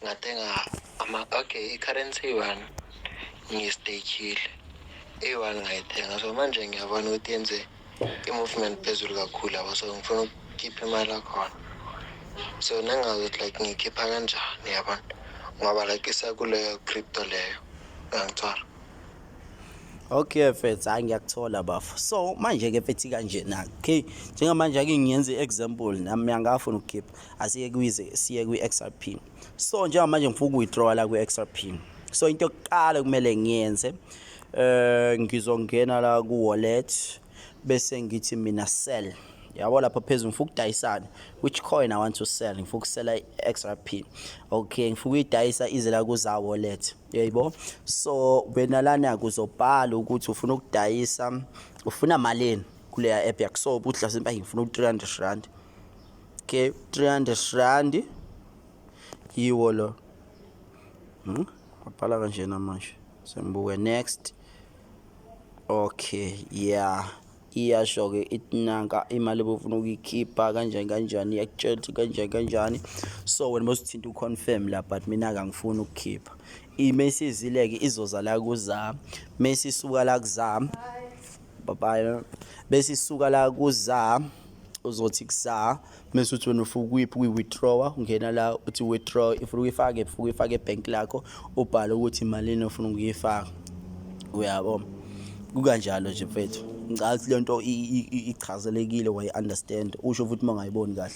ngathenga ama okay i-currency one ngiyistakile eyi-one ngayithenga so manje ngiyabona ukuthi yenze i-movement phezulu kakhulu yabo so ngifuna ukukhipha imali akhona so nangazi ukuthi like ngiyikhipha kanjani yabona ngoba like isakuleyo crypto leyo ngangithwala Okay mfethu hayi ngiyakuthola bafo. So manje ke mfethu kanje na. Okay njengamanje ake ngiyenze example nami ngiyangafuna ukukhipha. asiye kwize siye kwi-xrp so njengamanje ngifuna ukuwithdrawa la kwi-xrp so into yokuqala kumele ngiyenze eh ngizongena la ku wallet bese ngithi mina sell yabo lapha phezulu ngifuna ukudayisana which coin i want to sell ngifuna ukusela i-xrp okay ngifuna ukuyidayisa ize la kuza wallet yayibo so wena lana kuzobhala ukuthi ufuna ukudayisa ufuna malini kuleya app yakho so ubudla sempa ngifuna u-300 rand okay 300 rand yiwo lo hmm? wabhala kanjena manje sengibuke next okay yeah iyasho-ke ithi nanka imali bofuna ukuyikhipha kanjani kanjani iyakutshela ukuthi kanjani kanjani so wena bosithinta uconfirm la but mina kangifuni ukukhipha imesizile-ke izoza la kuzami mesisuka la kuzami Bye Bese isuka la kuza uzothi kusa mase uthi wena ufuka kuyiphi kuyi-withdrawer ungena la uthi withdraw if uyifake if uyifake ebhenk lakho ubhale ukuthi malini ofuna ukuyifaka uyabo kukanjalo nje mfethu ngicabanga ukuthi le nto ichazelekile wayi-understand usho futhi uma ungayiboni kahle